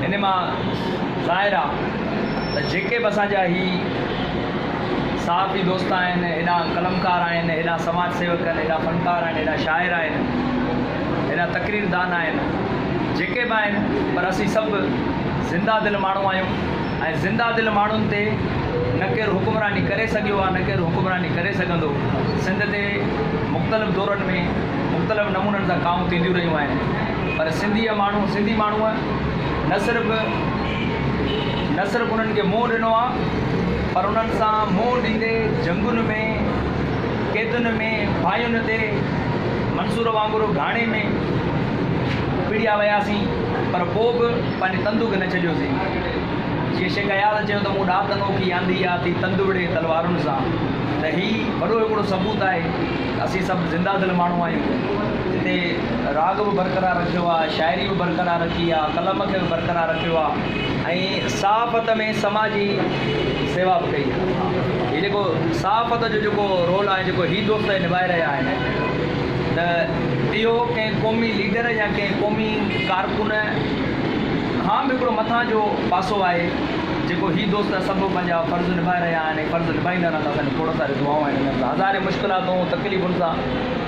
ان مان ظاهر آ ته جيڪي به اسان جا هي صحافي دوست آهن، هيڏا قلمڪار آهن، هيڏا سماج سيوڪ آهن، هيڏا فنڪار آهن، هيڏا شاعر آهن، هيڏا تقرير دان آهن، جيڪي به آهن پر اسين سڀ زنده دل ماڻهو آهيون ۽ زنده دل ماڻهن تي نه ڪير حڪمراني ڪري سگهيو آ نه ڪير حڪمراني ڪري سگهندو، سنڌ تي مختلف دورن ۾ مختلف نمونن سان ڪاهون ٿينديون رهيون آهن. پر سنڌيء ماڻهو، سنڌي ماڻهوء نه صرف نه صرف انهن کي منهن ڏنو آ، پر انهن سان منهن ڏيندي جنگن ۾، قيدن ۾، ڦاهين تي، منصور وانگر گهاڻي ۾ پڙهيا وياسين، پر پوء به پنهنجي تندو کي نه ڇڏيوسين. جيئن شيخ اياز چيو ته مون ڏات انوکي آندي آ ٿي تند وڙهي تلوارن سان، ته هي وڏو هڪڙو ثبوت آهي ته اسين سڀ زنده دل ماڻهو آهيون. جتي راڳ به برقرار رکيو آ، شاعري به برقرار رکي آ، قلم کي به برقرار رکيو آ ۽ صحافت ۾ سماجي سيوا به ڪئي آ. هي جيڪو صحافت جو جيڪو رول آهي جيڪو هي دوست اهي نڀائي رهيا آهن ته اهو ڪنهن قومي ليڊر يا ڪنهن قومي ڪارڪن کان به هڪڙو مٿان جو پاسو آهي جيڪو هي دوست سڀ پنهنجا فرض نڀائي رهيا آهن ۽ فرض نڀائيندا رهندا اسان جون کوڙ ساريون دعائون آهن انهن لاء هزارين مشڪلاتون تڪليفن سان